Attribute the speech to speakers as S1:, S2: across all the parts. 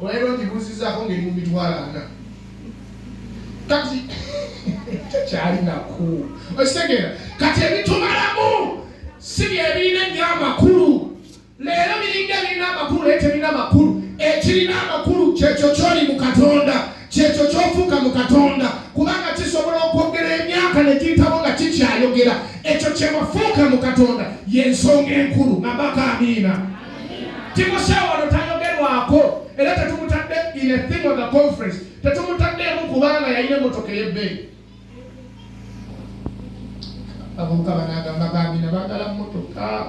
S1: Olwaleero ngibuuzizaako ngeri mu mitwalo ana kati tekyali naku okitegera kati ebitumalamu si byebirina ennyo amakulu leero biringa ebirina amakulu naye tebirina makulu ekirina amakulu kyekyo kyoli mu katonda kyekyo kyofuuka mu katonda kubanga kisobola okwogera emyaka nekiyitabo nga kikyayogera ekyo kyewafuuka mu katonda yensonga enkulu nabaka amiina Timoseewo wano tayogerwako era tetumutadde in a thing of the conference, tetumutaddeemu kubanga yalina emmotoka ey'ebbeeyi. Abavubuka banaagamba bambi nabaagala mmotoka.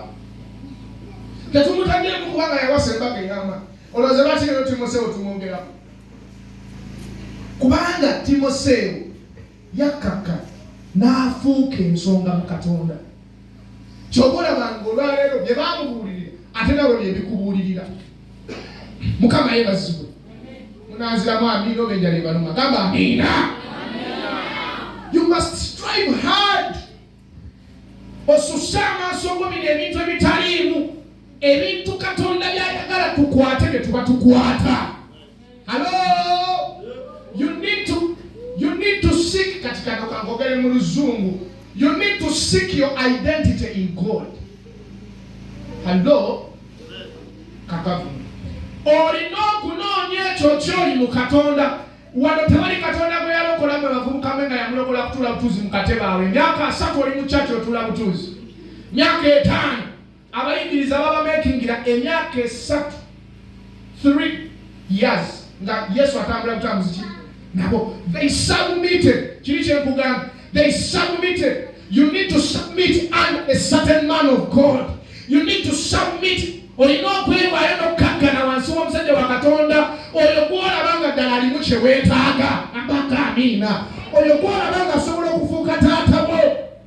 S1: Tetumutaddeemu kubanga yawasa embaga eyama. Olowooza lwaki leero Timoseewo tumwogerako? Kubanga Timoseewo yakkakka n'afuuka ensonga mu Katonda. kyova olaba nga olwaleero bye bamubuulirira ate nawe byebikubuulirira mukama ye bazibwe munanziramu amiina oba enjala ebaluma gamba amiina you must strive hard osusse amaaso go bino ebintu ebitaliimu ebintu katonda byayagala tukwate ne tuba tukwata Hello? You need to, you need to seek katika kakogele muluzungu. You need to seek your identity in God. Hello? Kakavu. Olina okunoonya ekyo kyoli mu Katonda. Wano tewali Katonda gwe yalokola gwe bavubuka mwe nga yamulokola kutula butuuzi mu katebe awo. Emyaka asatu oli mu kyaki otula butuuzi. Myaka etaano. abayigiriza babamekingira emyaka esatu 3 years nga yesu atambula butambuzi ki nabo they submitted kiri kyenkugamba they submitted you need to submit under a certain man of god you need to submit olina okwewaayo n'okkakkana wansi w'omusajja wa katonda oyo gwolaba nga ddala alimu kye weetaaga abaka amiina oyo gwolaba nga asobola okufuuka taata bwo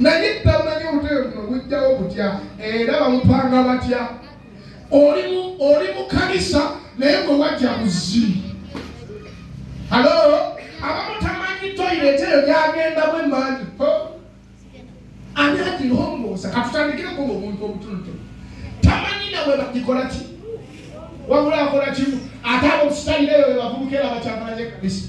S1: naye tamanyi obutebe buno bujjawo butya era bamupanga batya oli mu kanisa naye gwe wajja buzzi halo abamu tamanyi toyireta eyo gyagendamu emangi ani agirongoosa katutandikireko nga omuntu obutunutu tamanyi nawe bagikola ki wabula akola kimu ate abo musitayire eyo bebavubuka era bakyamalanye kanisa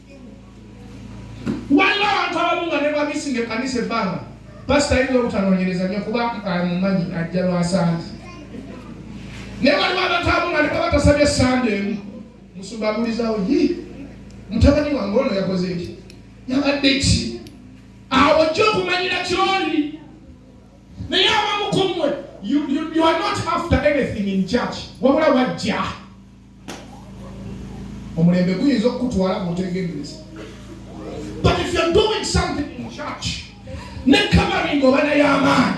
S1: waliwo abantu abamu nga nebabisi nga ekanisa ebbanga pasita ayinza obutanonyereza nyo kuba amumanyi ajja lwasanze naye waliwo abantu abamu nga nebaba tasabye sande emu musumba abulizawo yi mutabani wange ono yakoze eki yabadde ki awo ojja okumanyira kyoli naye abamukumwe you are not after anything in church wabula wajja omulembe guyinza okukutwala bwotegendereza but if you're doing something in church ne covering oba nayo amaanyi